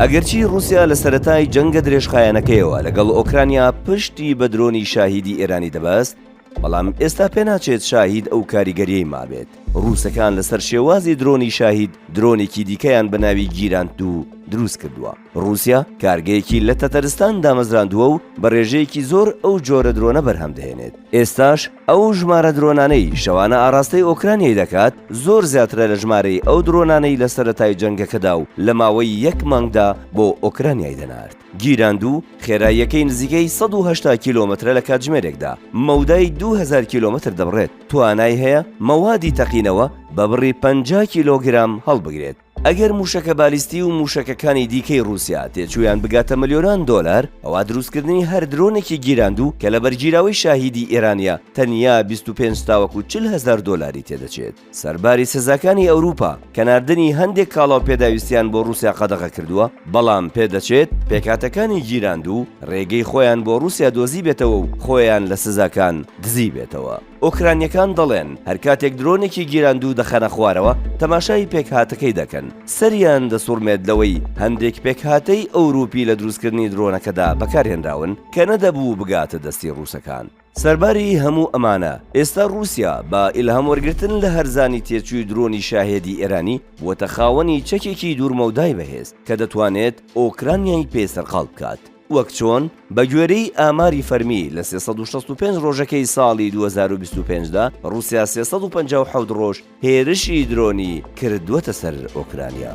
ئەگەرچی ڕووسیا لە سەرەتای جەنگە درێژخایەنەکەیەوە لەگەڵ ئۆکرانیا پشتی بە درۆنی شاهیدی ئێرانی دەبەست، بەڵام ئێستا پێناچێت شاهید ئەو کاریگەریەی مابێت، ڕووسەکان لەسەر شێوازی درۆنی شاهید درۆنێکی دیکەیان بە ناوی گیراند دوو دروست کردووە. ڕووسیا کارگەیەکی لە تەتەرستان دامەزراندووە و بە ڕێژەیەکی زۆر ئەو جۆرە درۆنە بەرهەم دەهێنێت ئێستاش ئەو ژمارە درۆنانەی شەوانە ئاراستەی ئۆکرانیای دەکات زۆر زیاترە لە ژمارەی ئەو درۆنانەی لە سەرەتای جەنگەکەدا و لە ماوەی یەک مانگدا بۆ ئۆکرانیای دەنارد گیراند و خێراییەکەی نزیکەی 1970 کیلۆمەترە لە کاتژمێرێکدا مەودای 2000 کیلۆمەتر دەبڕێت توانای هەیە مەوادی تەقینەوە بە بڕی 50 کیلۆگرام هەڵبگرێت ئەگەر مووشەکە بالیستی و مووشەکەکانی دیکەی ڕووسیا تێچوویان بگاتە ملیۆنان دۆلار، ئەوا دروستکردنی هەر درۆنێکی گیراندوو کە لەبەرگیراوەی شاهیدی ئێرانە تەنیا بیست و پێنج تاوەکو چل هەزار دۆلاری تێدەچێت. سەرباری سزاکانی ئەوروپا کە ناردنی هەندێک کاڵا و پێداویستیان بۆ ڕووسیا قەدەغە کردووە، بەڵام پێدەچێت پێکهاتەکانی گیراندوو ڕێگەی خۆیان بۆ ڕووسیا دۆزیبێتەوە و خۆیان لە سزاکان دزیبێتەوە. ئۆکرانیەکان دەڵێن هەرکاتێک درۆنێکی گیراندوو دەخەنە خوارەوە تەماشای پێکهاتەکەی دەکەن سەریان دەسوڕمێت لەوەی هەندێک پێکهاتەی ئەوروپی لە دروستکردنی درۆنەکەدا بەکارهێنراون کە نەدەبوو بگاتە دەستی ڕووسەکان. سەرباری هەموو ئەمانە، ئێستا ڕووسیا بە ئیلهام وەرگرتن لە هەرزانی تێچووی درۆنی شاهێدی ئێرانی، بووەتە خاوەنی چەکێکی دوورمەودای بەهێز کە دەتوانێت ئۆکرانیای پێ سەرقاڵ بکات. وەک چۆن بە گوێرەی ئاماری فەرمی لە سێ سەد و شەست و پێنج ڕۆژەکەی ساڵی دوو هەزار و بیست و پێنج دا، ڕووسیا سێ سەد و پەنجا و حەوت ڕۆژ هێرشی درۆنی کردووەتە سەر ئۆکرانیا.